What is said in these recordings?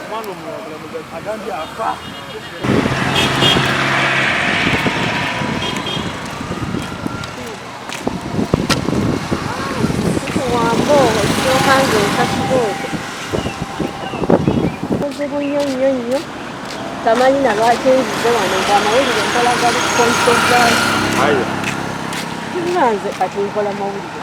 Omwana omulala agambye afa. Wambo, ekyokange ekasibo. Obuzibu nnyo nnyo nnyo. Tamanyi na lwaki nzize wano ng'amawulire nkola gali kukonsozaali. Ayo. Nze kati nkola mawulire.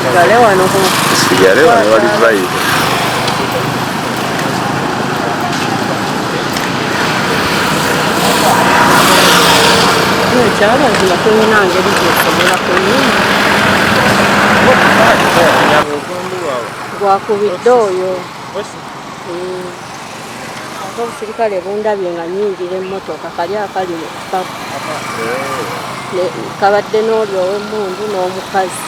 Sigale wano ku. Sigale wano wali vibe. Kyaba nzima tulina ngeri gyesobola kuyima. Gwakubidde oyo. ate obusirikale bundabye nga nyingira emmotoka kali akali mu kikapu kabadde n'oli ow'emmundu n'omukazi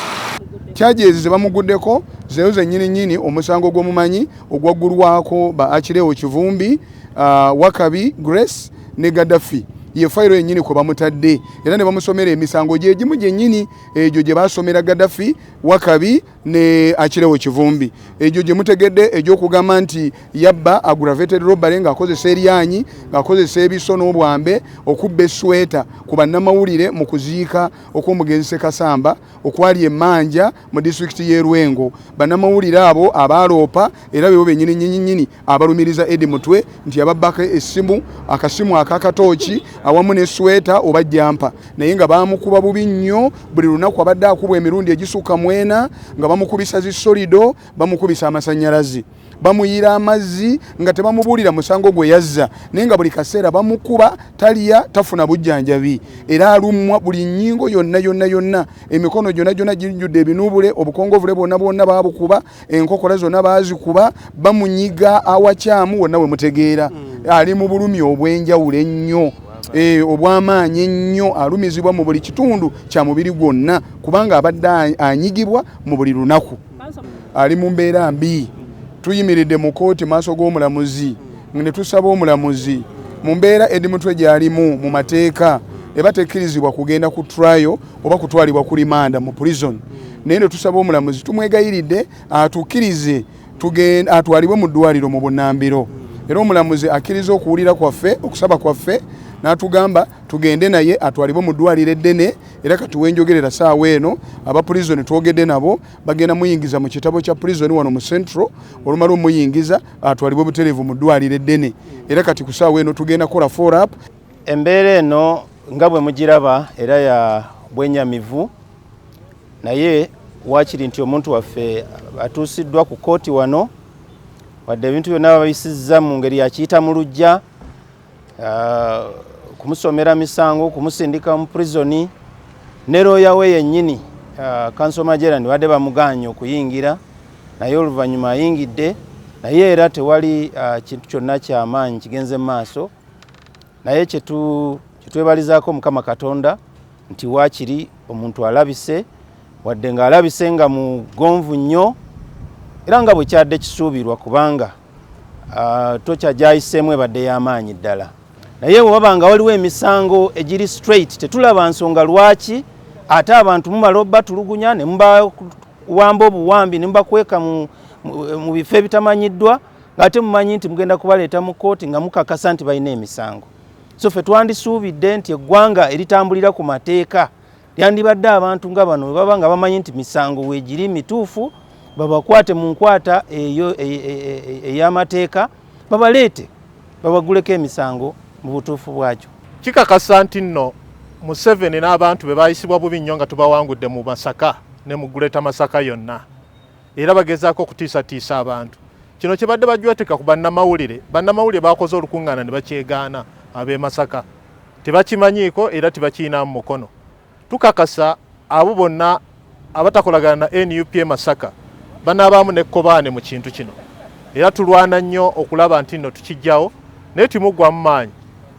kyajezi zebamuguddeko zeyo zenyini nyini omusango gw'omumanyi ogwaggulwako ba akirewo kivumbi uh, wakabi grace ne gaddafi ye fayiro yennyini kwe bamutadde era ne bamusomera emisango gye gimu gyennyini egyo gye basomera gaddafi wakabi ne akirewo kivumbi egyo gye mutegedde egy'okugamba nti yabba aggravated robbery ng'akozesa eryanyi ng'akozesa ebiso n'obwambe okubba esweta ku bannamawulire mu kuziika okw'omugenzi sekasamba okwali emanja mu disitulikiti y'e lwengo bannamawulire abo abaaloopa era bebo bennyini nyinyinyini abalumiriza Edi Mutwe nti yababbako essimu, akasimu akakatooki awamu ne sweta oba jampa naye nga baamukuba bubi nnyo. Buli lunaku abadde akubwa emirundi egisukka mwena nga bamukubisa zi solido, bamukubisa amasannyalaze, bamuyiira amazzi nga tebamubuulira musango gwe yazza naye nga buli kaseera bamukuba talya tafuna bujjanjabi era alumwa buli nnyingo yonna yonna yonna emikono gyonna gyonna gijjudde ebinuubule obukongovule bwonna bwonna baabukuba. enkokola zonna baazikuba bamunyiga awakyamu wonna we mutegeera hmm. ali mu bulumi obw'enjawulo ennyo Eh, obwamaanyi ennyo alumizibwa mu buli kitundu kya mubiri gwonna kubanga abadde anyigibwa mu buli lunaku ali mu mbeera mbi tuyimiridde mu kooti maaso g'omulamuzi ne tusaba omulamuzi mu mbeera edi mutwe gy'alimu mu mateeka eba tekkirizibwa kugenda ku trayo oba kutwalibwa ku limanda mu prison naye ne tusaba omulamuzi tumwegayiridde atukirize atwalibwe mu ddwaliro mu bunambiro era omulamuzi akkiriza okuwulira kwaffe okusaba kwaffe n'atugamba tugende naye atwalibwe mu ddwaliro eddene era kati wenjogerera saawa eno aba prizoni twogedde nabo bagenda muyingiza mu kitabo kya prizoni wano mu central olumala omuyingiza atwalibwe butereevu mu ddwaliro eddene era kati ku saawa eno tugenda kola forap Embeera eno nga bwe mugiraba era ya bwenyamivu naye waakiri nti omuntu waffe atuusiddwa ku kkooti wano wadde ebintu byonna babisizza mu ngeri yakiyita mu lujja ah, kumusomera misango kumusindika mu prisoni ne looya we yennyini ah, kanso majerani badde bamugaanye okuyingira naye oluvannyuma ayingidde naye era tewali ah, kintu kyonna kyamaanyi kigenze mu maaso naye kyetwebalizaako mukama katonda nti waakiri omuntu alabise wadde ng'alabise nga mugonvu nnyo era nga bwe kyadde kisuubirwa kubanga ah, tokya gyayiseemu ebadde y'amaanyi ddala naye bwe baba nga waliwo emisango egiri straight tetulaba nsonga lwaki ate abantu mumala obatulugunya ne mubawamba obuwambi ne mubakweka mu bifo ebitamanyiddwa ng'ate mumanyi nti mugenda kubaleeta mu kkooti nga mukakasa nti balina emisango so ffe twandisuubidde nti eggwanga eritambulira ku mateeka lyandibadde abantu nga bano we baba nga bamanyi nti misango weegiri mituufu babakwate mu nkwata eyo e, e, e, ey'amateeka babaleete babaguleko emisango mu butuufu bwakyo kikakasa nti nno museveni n'abantu be bayisibwa bubi nnyo nga tubawangudde mu masaka ne mu guleta masaka yonna era bagezaako okutiisatiisa abantu kino kyebadde bajwetika ku bannamawulire bannamawulire bakoze olukuŋŋaana ne bakyegaana ab'e masaka tebakimanyiiko era tebakiyinamu mukono tukakasa abo bonna abatakolagana na nup e masaka banaabaamu nekkobaane mu kintu kino era tulwana nnyo okulaba nti nno tukijjawo naye timuggwamu maanyi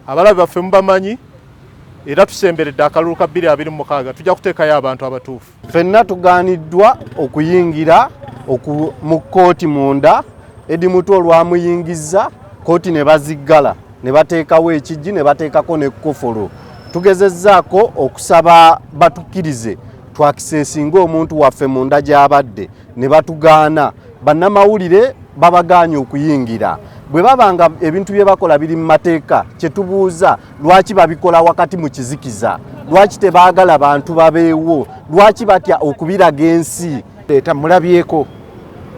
abalabe baffe mubamanyi era tusemberedde akalulu ka 226 tujja kuteekayo abantu abatuufu Fenna tugaaniddwa okuyingira mu kkooti munda Edi Mutu olwamuyingizza kkooti ne baziggala ne bateekawo ekijji ne bateekako n'ekkufulu. Tugezezzaako okusaba batukkirize twakisesinga omuntu waffe munda gy'abadde ne batugaana. Bannamawulire babagaanye okuyingira. Bwe baba nga ebintu bye bakola biri mu mateeka kye tubuuza lwaki babikola wakati mu kizikiza lwaki tebaagala bantu babeewo lwaki batya okubiraga ensi leeta mulabyeko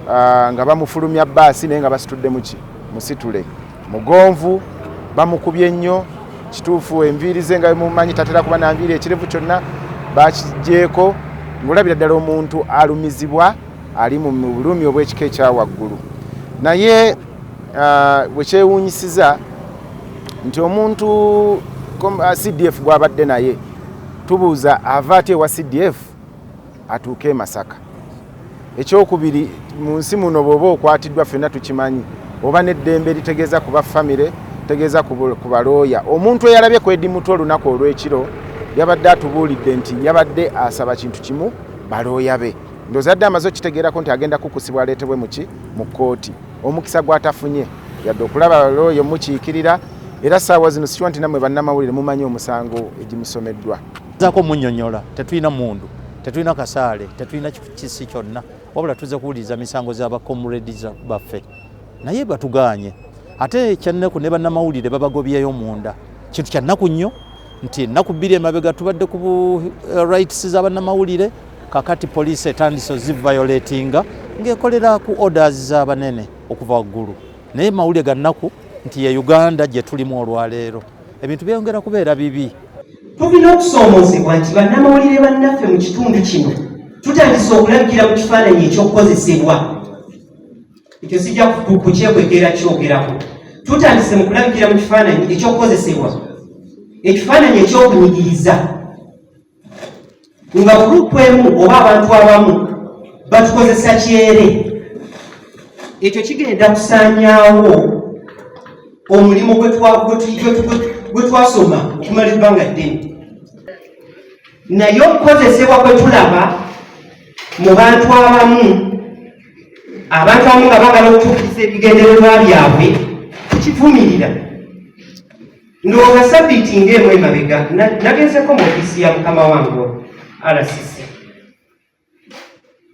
ah, nga bamufulumya baasi naye nga basitudde muki musitule mugonvu bamukubye nnyo kituufu enviiri ze nga mumanyi tatera kuba nanviiri ekirevu kyonna bakigyeko ngaolabira ddala omuntu alumizibwa ali mu bulumi obw'ekika ekyawaggulu naye Ah, wekyewunyisiza nti omuntu ah, cdf gwabadde naye tubuuza ava ati ewa cdf atuuke emasaka ekyokubiri mu nsi muno bweoba okwatiddwa fenna tukimanyi oba neddembe litegeeza kuba famire tegeeza ku balooya omuntu eyalabye kwedimutu olunaku olwekiro yabadde atubuulidde nti yabadde asaba kintu kimu balooya be ndozadde amaze okitegeerako nti agenda kukusibwa aleetebwe muki mu kkooti omukisa gwatafunye yadde okulaba looya omukiikirira era saawa zino sikiwa nti namwe bannamawulire mumanyi omusango egimusomeddwa zako munyonyola tetulina mundu tetulina kasaale tetulina kisi kyonna wabula tuze kuwuliriza misango za bacomrades baffe naye batuganye ate ekyannaku ne bannamawulire babagobyeyo munda kintu kyannaku nnyo nti ennaku bbiri emabega tubadde ku eh, rights za bannamawulire kakati poliisi etandise ozivayolatinga ng'ekolera ku orders z'abanene okuva waggulu naye mawulire ga nnaku nti ye uganda gye tulimu olwaleero ebintu byeyongera kubeera bibi tulina okusoomoozebwa nti bannamawulire bannaffe mu kitundu kino tutandise okulagira mu kifaananyi ekyokukozesebwa ekyo sijja kukyekwekera kyogerako tutandise mu kulabikira mu kifaananyi ekyokukozesebwa ekifaananyi ekyokunyigiriza nga gurupu emu oba abantu abamu batukozesa kyere ekyo kigenda kusaanyaawo omulimu gwe twasoma okumala ebbanga ddene naye okukozesebwa kwe tulaba mu bantu abamu abantu abamu nga bagala okutuukiriza ebigendererwa byabwe tukivumirira ndowooza sabiiti ngaemu emabega nagezeko mu ofiisi ya mukama wange rcc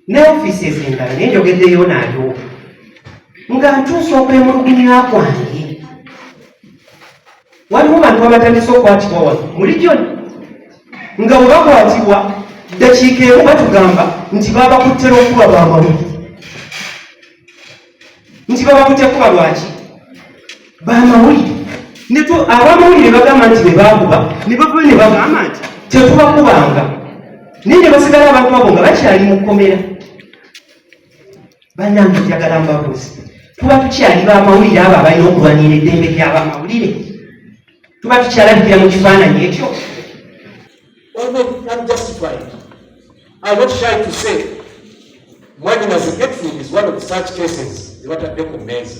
ne ofiisi ezendala naye njogeddeyo naliwo nga ntuusa okwemulugunya kwange waliwo bantu abatandise okukwatibwa wano mu region nga bwe bakwatibwa ddakiika emu batugamba nti babakutte lwokuba bamalu nti babakutte kuba lwaki bamawulire netu abamawulire bagamba nti bebakuba nebava ne bagamba nti tetubakubanga naye ne basigala abantu abo nga bakyali mu kkomera bannange njagala mbabuuzi tuba tukyali bamawulire abo abalina okulwanira eddembe lyabamawulire tuba tukyalabikira mu kifaananyi ekyo mwanyinazi getful is one of such cases zebatadde ku meeza